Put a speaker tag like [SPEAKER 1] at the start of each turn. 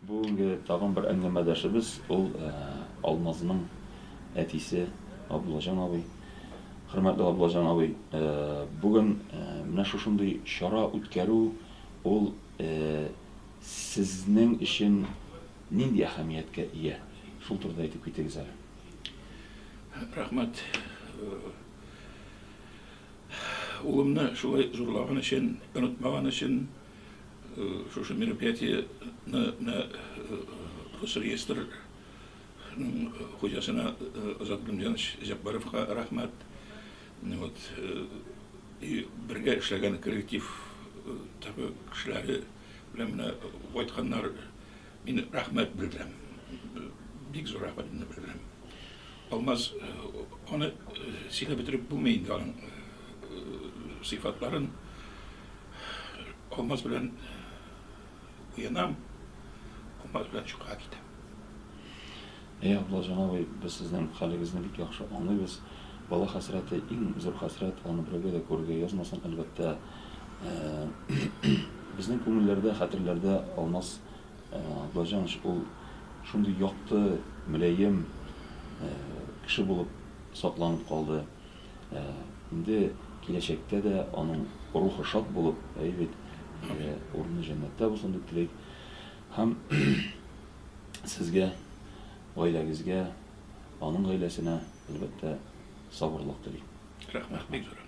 [SPEAKER 1] Бүгенге тагын бер әңгәмәдәшебез ул Алмазның әтисе Габдуллаҗан абый. Хөрмәтле Габдуллаҗан абый, бүген менә шушындый чара үткәрү ул сезнең өчен нинди әһәмияткә ия? Шул турыда әйтеп китегез әле. Рәхмәт. Улымны шулай зурлаган өчен, онытмаган өчен. Шушы мероприятиене менә Росреестр хуҗасына Азат Гөлмҗанович Җәббаровка рәхмәт. Вот. И бергә эшләгән коллектив ТАПы кешеләре белән менә кайтканнар. Мин рәхмәт белдерәм. Бик зур рәхмәтемне белдерәм. Алмаз, аны сөйләп бетереп булмый инде аның сыйфатларын. Алмаз белән уянам, Алмаз белән чукырга китәм. Әй, Абдулла җан абый, без сезнең хәлегезне бик яхшы аңлыйбыз. Бала хәсрәте иң зур хәсрәт, аны берәүгә дә күрергә язмасын, әлбәттә. Безнең күңелләрдә, хәтерләрдә Алмаз Баҗаныч ул шундый якты, мөлаем кеше булып сакланып калды. Инде киләчәктә дә аның рухы шат булып, әйе бит, урыны җәннәттә булсын дип телик. Һәм сезгә, гаиләгезгә, аның гаиләсенә, әлбәттә, сабырлык телим. Рәхмәт, бик зур рәхмәт.